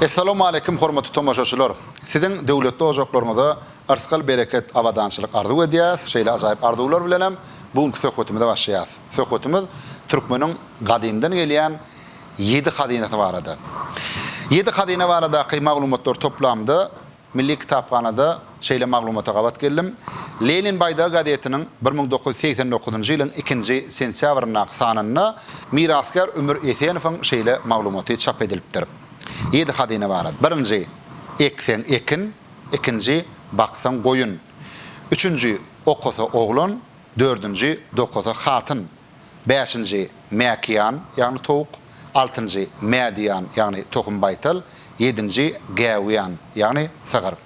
Essalamu aleýkum hormatly tomaşaçylar. Siziň döwletli ojaklaryňyza yrsgal bereket abadançylyk arzuw edýäs. Şeýle ajaýyp arzuwlar bilen hem bu günki söhbetimize başlaýas. Söhbetimiz türkmeniň gadymdan gelýän ýedi hazynasy barada. Ýedi hazyna baradaky maglumatlar toplamda Milli kitaphanada şeýle maglumata gabat geldim. Lenin baýdagy gazetiniň bir müň dokuz ýüz segsen dokuzynjy ýylyň ikinji sentýabryndaky sanynda mirasgär Ümür Esenowyň şeýle maglumaty çap edilipdir, Ýedi hazyna barada, birinji, ekseň, ekin, ikinji, baksaň, goýun, üçünji, okasa, oglan, dördünji, dokasa, hatyn, Bäşinji, mäkiýan, ýagny towuk. Altynjy, mädiýan, ýagny tohum baýtal. Ýedinji, gäwýan, ýagny sygyr.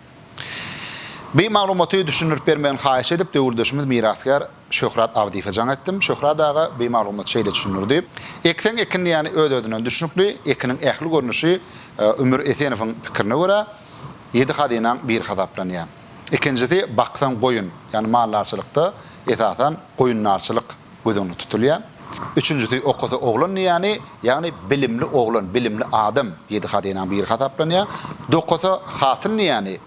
Bi maglumaty düşündirip bermegini haýyş edip, döwürdeşimiz mirasgär Şöhrat Abdyýewe jaň etdim. Şöhrat aga bi maglumaty şeýle düşündirdi. Ekseň ekin diýýäni öz-özünden düşnükli, ekiniň ähli görnüşi Ümür Esenowyň pikirine görä, ýedi hazynaň biri hasaplanýar. Ikinjisi, baksan goýun, ýagny maldarçylykda esasan goýundarçylyk göz öňünde tutulýar. Üçünjisi, okasa oglan diýýäni, ýagny bilimli oglan, bilimli adam ýedi hazynaň biri hasaplanýar. Dokasa hatyn diýýäni,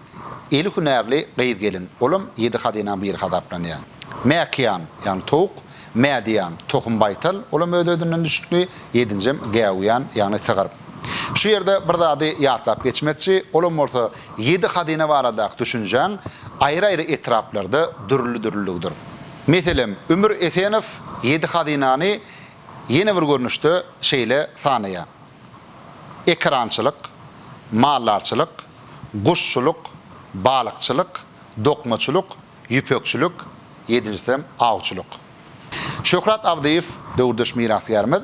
eli hünärli gyz-gelin, olam ýedi hazynaň biri hasaplanýar. Mäkiýan, ýagny towuk, mädiýan, tohum baýtal, olam öz-özünden düşnükli, ýedinjem gäwüýan, ýagny sygyr. Şu ýerde bir zady ýatlap geçmekçi, olam bolsa Ýedi hazyna baradaky düşünjäň aýry-aýry etraplarda dürli-dürlüligidir. Meselem, Ümür Esenow ýedi hazynany ýene bir görnüşde şeýle sanaýar, ekerançylyk, maldarçylyk, guşçulyk, balykçylyk, dokmaçylyk, ýüpekçilik, ýedinjisi hem awçylyk. Şöhrat Abdyýew döwürdeş mirasgärimiz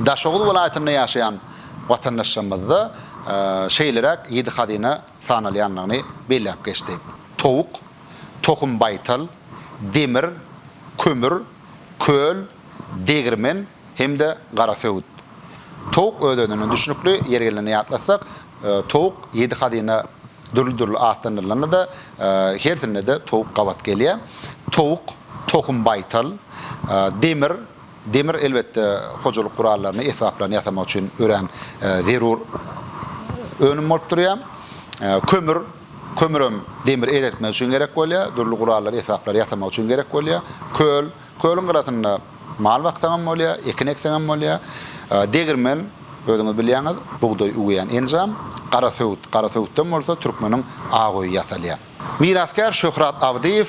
Daşoguz welaýatynda ýaşaýan watandaşlarymyzda şeýleräk ýedi hazyna sanalýandygyny belläp geçdi, towuk, tohum-baýtal, demir, kömür, köl, degirmen, hem-de gara söwüt. Towuk özenine düşnükli, ýeri gelende ýatlatsak, towuk ýedi hazyna dürli-dürli atlandyrylanda-da, hersinde-de towuk gabat gelýär. Towuk, tohum baýtal, demir, demir elbetde hojalyk gurallaryny, esbaplaryny ýasamak üçin örän zerur önüm bolup durýar. Kömür, kömürem demir eretmek üçin gerek bolýar, dürli gurallary, esbaplary ýasamak üçin gerek bolýar. Köl. Kölüň gyrasynda mal baksaň hem bolýar, ekin ekseň hem bolýar. Degirmen, özüňiz bilýäňiz, bugdaý üwýän enjam. Garasöwüt, garasöwütden bolsa türkmeniň ak öýi ýasalýar. Mirasgär Şöhrat Abdyýew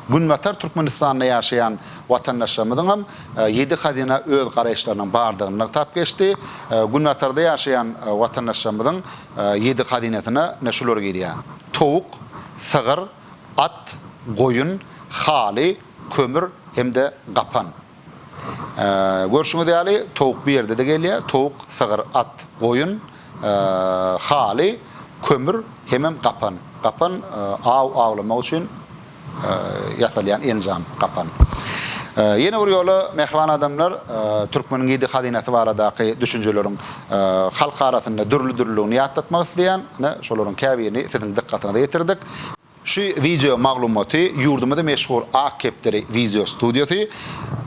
Günbatar Türkmenistanda ýaşaýan watandaşlarymyzyň hem ýedi hazyna öz garaýyşlarynyň bardygyny nygtap geçdi. Günbatarda ýaşaýan watandaşlarymyzyň ýedi hazynasyna ine şular girýär, towuk, sygyr, at, goýun, haly, kömür hem-de gapan. Görşüňiz ýaly, towuk bu ýerde-de gelýär. Towuk, sygyr, at, goýun, haly, kömür hemem gapan. Gapan aw awlamak üçin ýasalýan enjam, gapan. Ýene bir ýola, mähriban adamlar, türkmeniň ýedi hazynasy baradaky düşünjeleriň halk arasynda dürli-dürlüligini ýatlatmak isleýän. Ine, şolaryň käbirini siziň dykgatyňyza ýetirdik. Şu wideo maglumaty ýurdumyzy meşhur Ak kepderi wideo studiýasy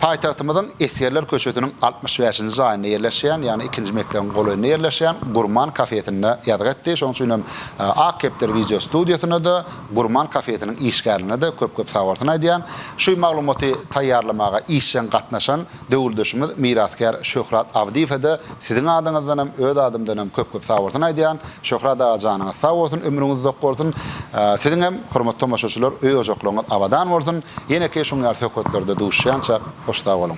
paýtagtymyzyň Esgerler köçesiniň altmyş bäşinji jaýynda ýerleşýän, ýagny ikinji mekdebiň golaýynda ýerleşýän Gurman kafesinde ýazgy etdi. Şonuň üçin hem Ak kepderi wideo studiýasyna-da, Gurman kafesiniň işgärlerine-de köp-köp sag bolsun aýdýan. Şu maglumaty taýýarlamaga işjeň gatnaşan, Döwürdeşimiz mirasgär Şöhrat Abdyýewe-de siziň adyňyzdanam, öz adymdanam köp-köp sag bolsun aýdýan. Şöhrat aga janyňyz sag bolsun, ömrüňiz uzak bolsun. Siziň hem, hormatly tomaşaçylar, öý-ojaklaryňyz abadan bolsun. Ýeneki şuň ýaly söhbetlerde duşýançak, hoş sag boluň.